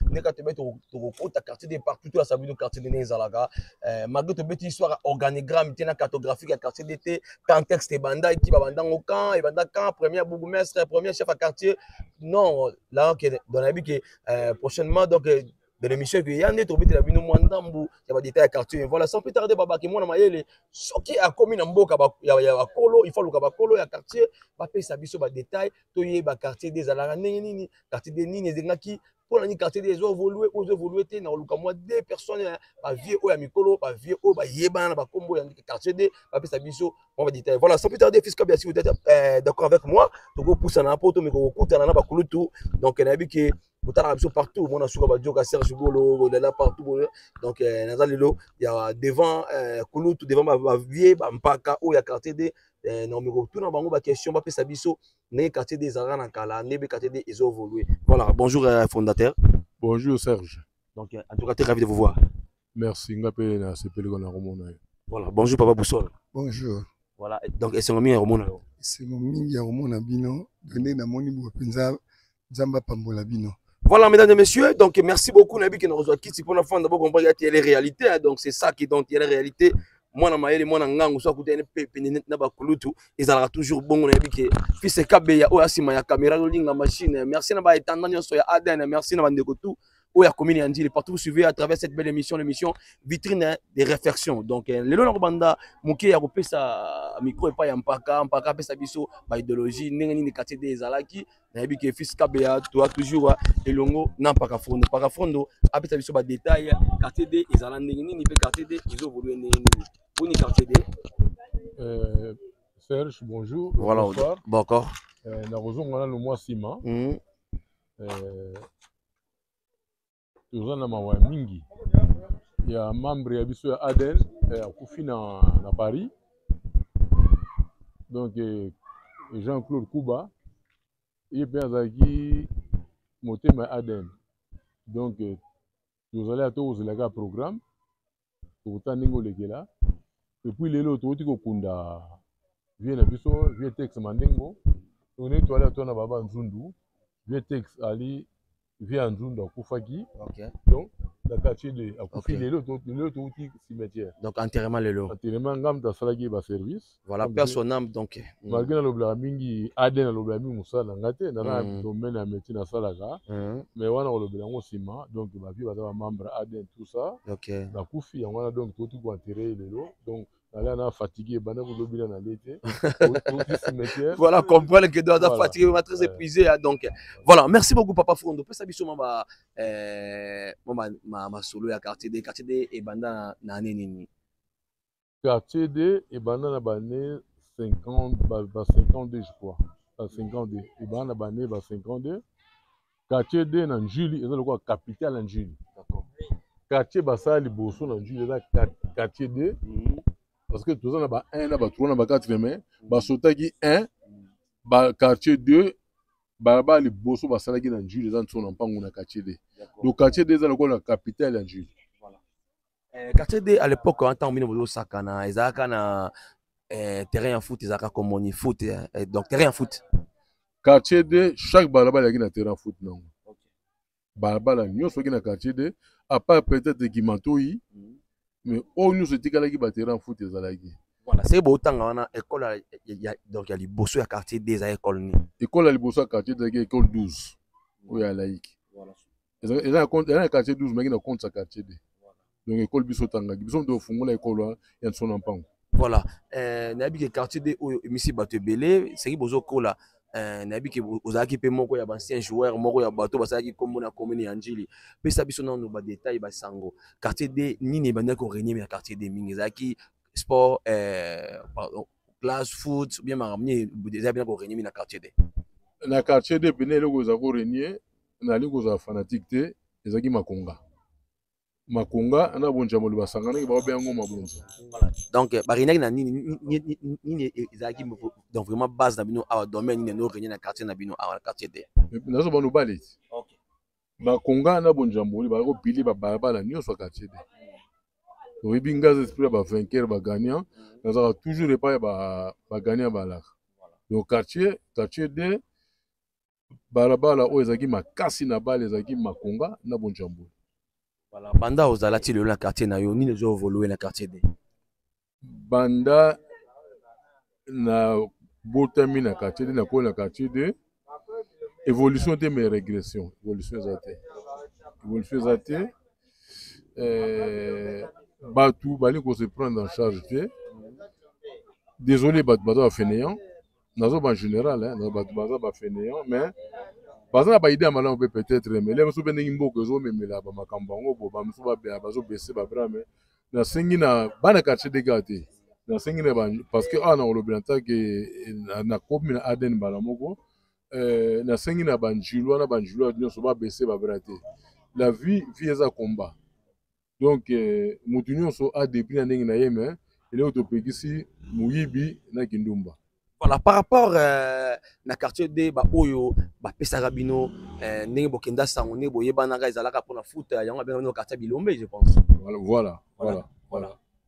ndenge kaka tobe tokokota quartier de partout to ya sabi to quartier de ndenge ezalaka eh, malgré tobeti histoire organigramme te na cartographique ya quartier de te contexte ebandaki babandango camp ebanda camp premier bourgmestre premier chef ya quartier non là que dans la vie que eh, prochainement donc eh, de l'émission ekoya nde tobetela bino mwa ndambu ya badetail ya quartier voilà sans plus tarder babake mwana mayele soki akomi na mboka ya bakolo il faut aluka bakolo ya quartier bapesa biso badetail toyeba quartier de ezalaka ndenge nini quartier de nini ezengaki mpo na nini quartier de ezo évolue oyo ezo évolue te na koluka mwa deux personnes ya bavieux oyo ya mikolo bavieux oyo bayebana na bakombo ya quartier de bapesa biso mwa badetail voilà sans plus tarder fils kabia si vous êtes euh, d'accord avec moi tokopusana mpo tomeka kokutana na bakulutu donc nayebi ke botalaka biso partout mona suka badioka serge golo bolela partout boye donc euh, naza lelo ya devant euh, kulutu devant bavieux bampaka oyo ya quartier de eh, na omeko tuna bango ba question ba pesa biso ndenge quartier des arts na kala ndebe quartier des ezo évoluer voilà bonjour euh, fondateur bonjour Serge donc euh, en tout cas très ravi de vous voir merci nga pe na sepeli ko na komona yo voilà bonjour papa Boussol bonjour voilà donc esengo mingi ya komona yo esengo mingi ya komona bino bende namoni bopenza nzambe apambola bino Voilà, mesdames et messieurs, donc merci beaucoup. Nabi qui nous reçoit Kitsi pour la fin d'abord comprendre qu'il y a les réalités. Hein, donc c'est ça qui donc il y a les réalités. Moi, na maele, moi, na ngango, soit côté NPP, na bakulutu, ils aura toujours bon. Nabi qui fils et kabé, ya oya sima ya caméra, le link, la machine. Merci na ba étendant, ya soya ADN. Merci na bandeko tout. Oya commune et Andile, partout vous suivez à travers cette belle émission, l'émission vitrine hein, des réflexions. Donc euh, les lois banda, mouké ya kopé sa micro et pas ya mpaka, mpaka pesa biso, ba idéologie, n'engani ni quartier des alaki. nayebi ke fils kabeya toa toujours ah, elongo na mpaka fondo mpaka fondo apesa biso badetail quartier d ezala ndenge nini mpe quartier d ezovolue ndenge nini boni quartier d euh, serge bonjour voilà bonsoir bokor euh, nakozonga nano mwa nsima hmm. euh, toza na mawa mingi ya membre ya biso ya adn eh, akufi na, na paris donc eh, jean claude kuba ye mpe azalaki motema ya adn donc eh, tozali ata kozela kaka programme tokotala ndenge olekela epuis lelo tokoti kokunda vie na biso vie tex mandengo tokende toale atona baba nzundu vie tex ali vie ya nzundu akufaki okay. donc na quartier de akufi okay. lelo tokoti cimetière donc enterrement lelo enterrement ngamta asalaki baservice voilà père son âme donc mm. malgré na lobela mingi AD na lobela mingi musala na nga te na na mm. domaine ya métier na salaka mm. mais wana ko lobela ngo sima donc ba vie baza ba membre AD tout ça OK ba kufi yango na donc tout ko enterrer lelo donc nala na fatigué bana ko lobela na l'été voilà comprendre que doit voilà. fatigué ma très épuisé hein, donc voilà merci beaucoup papa Fondo pesa biso ma ba euh ma ma solo ya quartier des quartier des et banda na nini Quartier de ebanda na bane 50 ba, ba 52 je crois ba 52 ebanda na bane ba 52 quartier de na Njili eza lokola capitale ya Njili quartier basala liboso na Njili eza quartier de mhm. parce que toza na ba 1 na ba 3 na ba 4 mais mhm. basotaki 1 ba quartier 2 balabala liboso basalaki na Njili eza nso na mpango na quartier de donc quartier de eza lokola capitale ya Njili Eh, quartier d à l'époque hein, ntango bino bozosakana ezalaka na eh, terrain ya foot ezalaka komoni foot hein. eh, donc terrain ya foot quartier d chaque balabala ezalaki na terrain ya foot nango balabala nyonso oki na quartier d à part peut-être gimantoi mm. mais oyo nyonso etikalaki baterrain ya foot ezalaki voilà seke bootanga wana ekole donc ya liboso ya quartier d eza ekole nini ekole ya liboso ya quartier d ezalaki ekole 12 oyo ya laïque eza na quartier 12 maki na compte ya quartier 2 donc ekole biso otangaki biso moto ofungola ekolo hein, ya nso na mpango voilà euh, nayebi ke quartier 2 oyo emisi bato ebele seki bozokola Euh, nayebi ke ozalaki mpe moko ya baancien joueur moko ya bato basalaki nkombo na commune ya njili pesa biso nano badetail basango quartier d nini ebandaki koregne ya quartier d mingi ezalaki sport euh, classe foot bien makambo nini ezalaki mpena koregne mingi na quartier d na quartier d mpena eloko eza koregne nali kozala fanatike te ezalaki makonga makonga na bonja moli basanganaki baobe yango mabonza donc baregnaki na nini nini ezalaki donc vraiment base na bino awa domaine nini eno regne na quartier na bino awa na quartier te nazo bano bale ti bakonga na bonja moli bazali kopili babalabala nyonso ya quartier te oyebi ngai aza esprit ya bavainqueur bagagnant nazalaka toujours epai ya bagagnant balaka donc quartier quartier de balabala oyo ezalaki makasi na bale ezalaki makonga na bonjambo voilà banda ozala ti lelo na quartier na yo nini ezovolue na quartier de banda na botami na quartier de nakoli na quartier de évolution te mais régression évolution eza te évolution eza te euh, bato bali ko se prendre en charge te désolé bato baza bafeneant nazo ba general hein, na bato baza ba fainéant mais baza na baide ya malamu mpe peut-être mais lelo mosusu mpe ndenge mboka ezomemela bamakambo yango bo bamosusu bazobese babra mais nasengi na bana quartier dega te nasengi na parce que awa nakolobela ntake nakomi na adn mbala moko eh, nasengi na banjulwa na banjulwa nyonso babese babra te la vie vie eza combat donc eh, motu nyonso adepli na ndenge na ye me eloko topekisi moyibi na kindumba voilà par rapport euh, na quartier d baoyo bapesaka bino euh, ndenge bokenda sango ndenge boyebanaka ezalaka mpona foot yango abenga bino quartier bilombe je pense voilà voilà, voilà. voilà. voilà.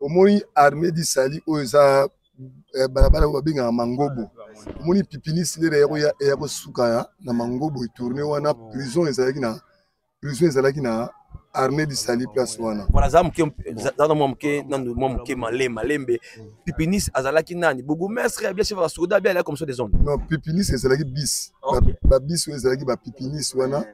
omoni armée du salut oyo eza eh, balabala oyo babengaka mangobo omoni pipinisi lera ya kosuka na mangobo etourne wana prison ezalaki na prison ezalaki na armée du salut place wana voilà za moke za na mwa moke nanu mwa moke male malembe pipinis azalaki nani bourgmestre ya bien chef ya soda bien alaki comme ça des hommes non pipinis ezalaki bis ba bis oyo ezalaki ba pipinis wana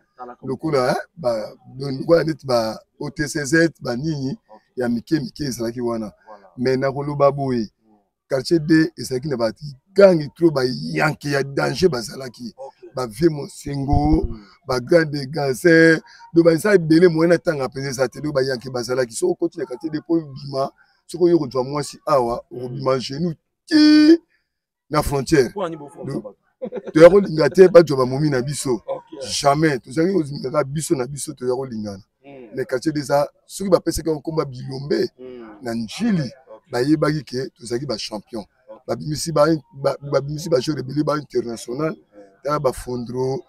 lokola eh, lokola neti ba otcz banini ya mike mike ezalaki wana mais nakoloba boye hmm. quartier d ezalaki na bagangi tro bayanke ya danger bazalaki bavie mosengo hmm. bagrande ganse do baza ebele moye na ntanga mpenza eza te do bayanke bazalaki soki okoti na quartier d mpo obima soki oyo kozwa mwasi awa okobima hmm. genou ti na frontière toya kolinga te bato ya bamomi na biso jamais tozalaki kozingaka biso na biso toya kolingana hmm. mais quartier deza soki bapesaki yango nkomba bilombe hmm. na njili bayebaki ke tozalaki bachampion babimisi bajeur ebele ba international tala bafondro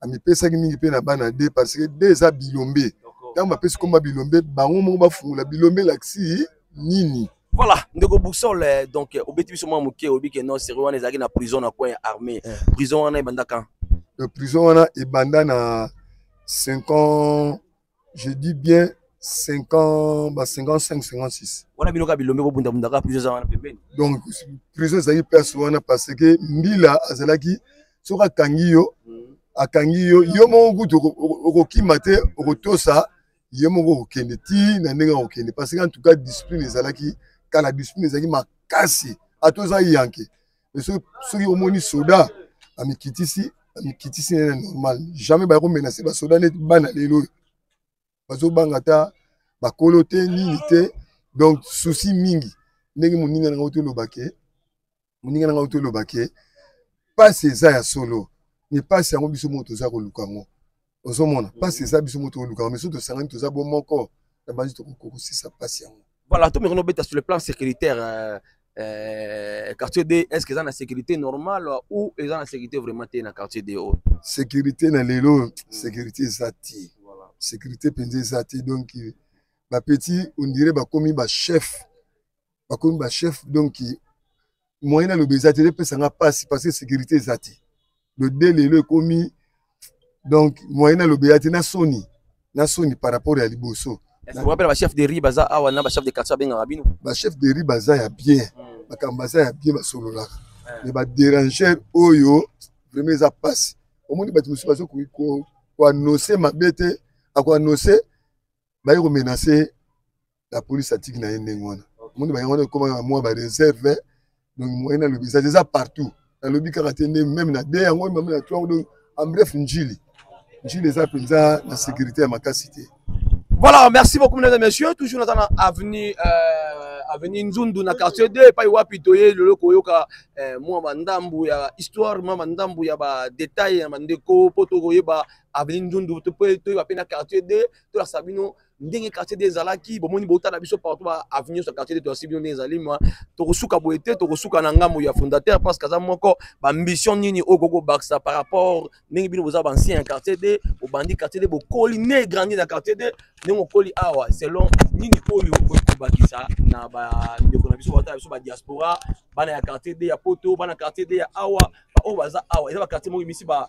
amipesaki mingi mpe na bana de parce que de eza bilombe ntango bapesi komba bilombe bango moko bafungola bilombe elakisi nini voilà ndeko boussole eh, donc eh, obeti biso mwa moke oyebi ke non serie wana ezalaki na prison na coin ya armée eh. prison wana ebanda quand prison wana ebanda na 5 ans je dis bien 50 ba 55 56 wana bino kaka bilombe kobundabunda kaka prison eza wana pembeni donc prison ezalaki place wana parce que mbila azalaki soki akangi yo mm. akangi yo yo moko kutu okokima te okotosa ye moko okokende ti na ndenge akokende parce que en tout cas discipline ezalaki kala discipline ezalaki makasi ata oza yanke soki omoni soda amikitisi amikitisi nene normal jamais baya komenase basoda neti bana lelo oyo bazobanga ata bakolo te nini te donc susi mingi ndenge moninga na ngai toloba ke moninga na ngai toloba ke mpasi eza ya solo me mpasi yango biso moko toza koluka yango ozomona mpasi eza biso moto olukaka misu tosangani toza bo moko na banzi tokokosisa mpasi yango voilà to mekona obeta sur le plan sécuritaire euh, euh, quartier d est ce que eza na sécurité normale ou eza na sécurité vraiment te na quartier d oyo sécurité na lelo sécurité eza te sécurité mpenza eza te donc bapetit ondire bakomi bachef bakomi ba chef donc moyen naloba eza te epesa nga mpasi parce que sécurité eza te le de lelo ekomi donc moyen naloba eza te na soni na soni par rapport ya liboso wapela bachef de ri baza awa na bachef de quartier abengaka bino bachef de ri baza ya bien hmm. makambo baza ya bien basololaka eh. mais badéranger oyo vraiment eza mpasi omoni bato mosusu bazo koannonce mabe te akoannonce baye komenase la police atiki na ye ndenge wana omoni bayango wana ekoma na mwa bareserve donc moyen nalobi eza eza partout nalobi kaka te nde meme na de yango meme na to yango donc en bref njili njili eza mpenza na sécurité ya makasi te voilà merci beaucoup mesdames et messieurs toujours naza na avenue euh, avenue nzundu na quartier 2 epai wapi toye lelo koyoka euh, mwa bandambu ya histoire mwa bandambu ya badetail ya bandeko mpo tokoyeba avenue nzundu mpe toyeba mpe na quartier 2 tolakisa bino ndenge quartier de ezalaki bomoni bouta na biso partout ba avenue nyonso ya quartier de toyasi bino ndenge ezali ma tokosuka boye te tokosuka na ngambo ya fondateur parce que aza moko baambition nini oyo koki kobakisa par rapport ndenge bino boza baancien ya quartier de obandi quartier de bokoli ne grandi na quartier de ndenge okoli awa selon nini oyo okoki kobakisa na bandeko na biso bata na biso badiaspora bana ya quartier de ya poto bana quartier de ya awa baoyo baza awa eza baquartier moko emisi ba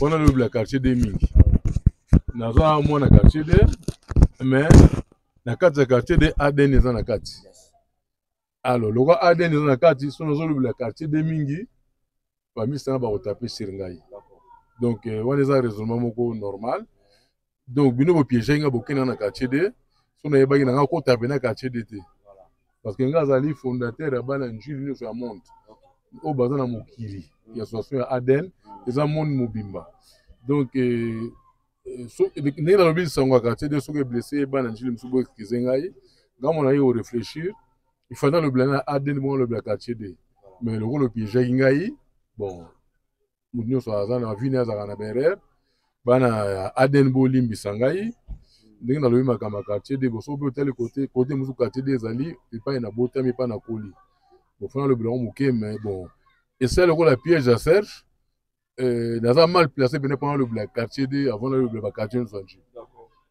wana lobi la quartier de mingi naza mwana quartier de mais na kati ya quartier de adn eza na kati alors lokola adn eza na kati so nazolobela quartier de mingi bamisanga bakotape sur ngai donc euh, wana eza raisonnement moko normal donc bino bopiege nga bokenda na quartier de so nayebaki na nga kota mpe na quartier de te parce que nga azali fondateur ya bana njili nyonso ya monde oyo baza na mokili ya association ya aden eza monde mobimba donc euh, euh, ndenge nalobi lisango ya quartier de soki eblesse bana njili mosusu bo excuse ngai nga mona ye koreflechir ifanda alobela na aden bongo alobela quartier de mais lokola opiejaki ngai bon moto nyonso aza na vie naye azalaka na baerreur bana ya adn bolimbisa ngai ndenge nalobi makambo ya quartier de boso mpe otali kote kote mosusu quartier de ezali epai na botami epai na koli bofana lobi lango moke me bon esali lokola piège ya serge euh, naza mal placé mpena mpona lobela quartier de avant nalobela baquartier nyonso ya nji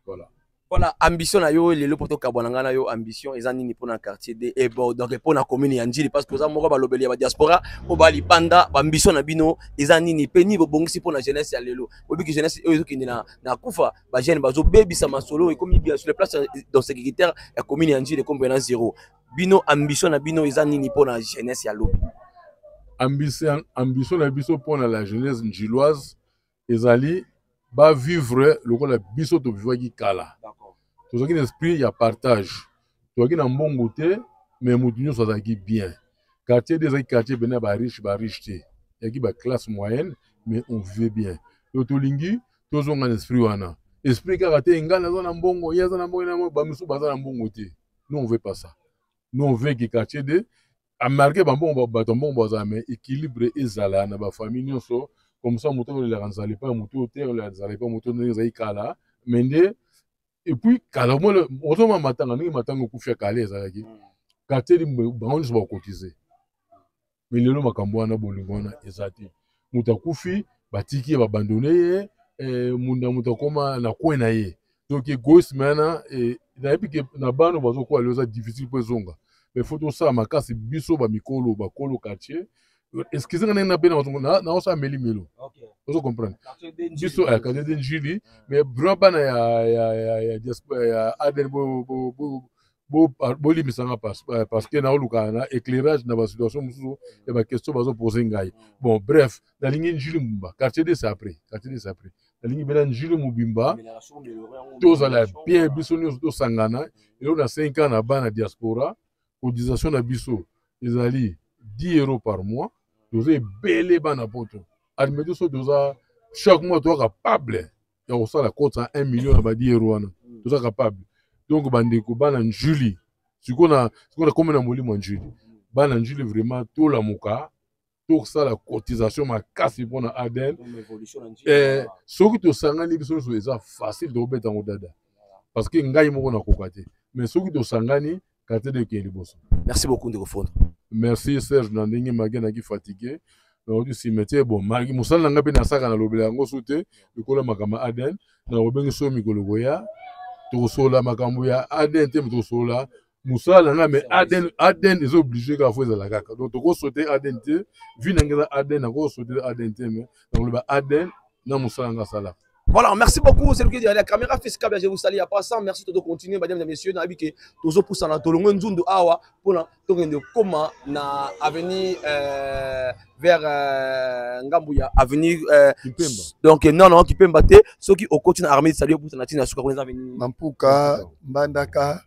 voilà Voilà, ambition na yo lelo poto kabwana ngana yo ambition eza nini pona quartier de et bon donc pona commune ya Ndjili parce que oza moko ba lobeli ya ba diaspora o ba libanda ba ambition na bino eza nini pe ni bobongisi pona jeunesse ya lelo obi ki jeunesse oyo ezokende na na kufa ba jeune bazo bebisa masolo ekomi bien sur les places dans sécuritaire ya commune ya Ndjili kombe na zéro bino ambition na bino eza nini pona jeunesse ya lobi ambition ambition na biso pona la jeunesse ndjiloise ezali ba vivre lokola biso to vivaki kala tozalaki na esprit ya partage tozalaki na mbongo te mais moto nyonso azalaki bien quartier de ezalaki quartier pene ya bariche bariche te yaki baklasse moyenne mais on vivait bien yo tolingi tozonga na esprit wana esprit kaka te ngai naza na mbongo ye aza na mbongo bamisusu baza na mbongo te non on veut pas ça non on veut que quartier de amarke bambongo bato mbongo bazala me équilibre ezala na bafamille nyonso komsa moto olelaka nzala epai moto oyo te olela nzala epai moto ndenge ezali kala me nde epuis kala omona ozoma matanga ndenge matanga okufi ya kala ezalaki mm. kateli bango nyonso bakotize me lelo makambo wana bolingo wana eza te moto akufi batiki ye babandone ye eh, munda moto akoma na kwe na ye donc egoïsme wana eh, nayebi ke na bana bazokola lelo eza difficile mpo ezonga mais faut tosala makasi biso bamikolo bakolo quartier excuse nga ndenge nabena naosala meli melo ozo comprendre biso eh, quartier de njili mais vraiment bana ya diaspora ya aden bolimbisa bo nga eh, parce que naoluka na éclairage na basituation mosusu ya baquestion bazopose ngai bon bref nalingi njili mobimba quartier de sapre quartier de sapre nalingi bela njili mobimba tozala bien biso nyonso tosangana elo na 5 ans na bana diaspora cotisation na biso ezali 10 euros par mois toza ebele bana poto admettons so toza chaque mois toza capable ya kosala kota 1 million ya badiero wana mm. toza capable donc bandeko bana njuli sikoyo na sikoyo nakomi na molimo ya njuli bana njuli vraiment tolamuka tosala cotisation makasi mpo na aden eh, soki tosangani biso nyonso eza facile tokobeta yango dada parce que ngai moko nakoka te mais soki tosangani quartier de kie liboso merci beaucoup ndeko fondo merci serge na ndenge mage naki fatigue nakoki cimetière bon magi mosala na ngai mpe nasaka nalobela yango su te lokola makambo ya adn nakobenge so mikolo koya tokosolola makambo ya adn te tokosolola mosala na ngai me adn adn eza oblige kaka fo ezala kaka donc tokosote adn te vi na ngai eza adn nakosote adn te me nakoloba adn na mosala ngai asalaka Voilà, merci beaucoup. C'est le qui dit la caméra fait câble, je vous salue à passant. Merci de continuer, mesdames et messieurs. Nabi que tozo pour ça na tolongo nzundu awa pour na token de comment na avenue euh, vers euh, Ngambuya avenue euh, Kipemba. Donc non non Kipemba te, ceux qui au coach na armée salut pour ça na tina suka kuna avenue. Mampuka, Mbandaka.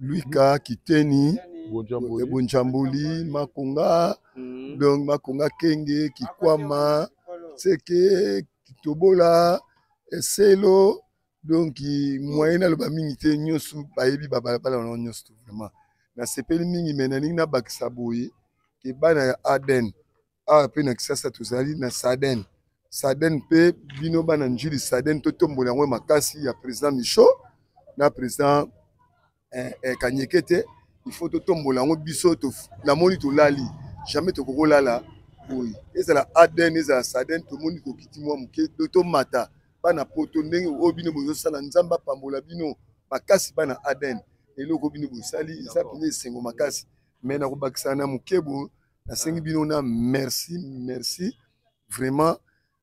Luika, Kiteni, Bunjambuli, Bunjambuli Makonga, mm. donc Makonga Kenge, Kikwama, Tseke, Kitobola, Eselo, donc moyen naloba mingi te nyonso bayebi babalabala wana nyonso to vraiment nasepeli mingi me nalingi nabakisa boye ke bana ya aden awa ah, mpe na kisasa tozali na saden saden mpe bino bana njili saden totombola yango makasi ya président micho na président eh, eh, kanyeke te il faut totombola yango biso namoni tolali jamais tokokolala boye ezala aden ezala saden tomoni kokiti mwa moke to tomata bana poto ndenge oyo bino bozosala nzambe apambola bino makasi bana aden eloko bino bosali eza mpenza esengo makasi me nakobakisa na mokebo nasengi bino na merci merci vraiment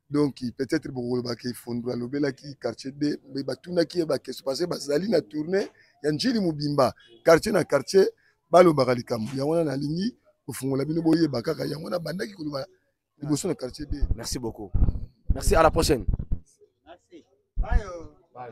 donc peut-être bokolobaka efondo alobelaki quartier d me batunaki ye bakestion parce que bazali na tournée ya njili mobimba quartier na quartier balobaka likambo yango wana nalingi kofungola bino boyeba kaka yango wana bandaki koloba liboso na quartier d merci beaucoup merci à la prochaine merci. Bye. Bye.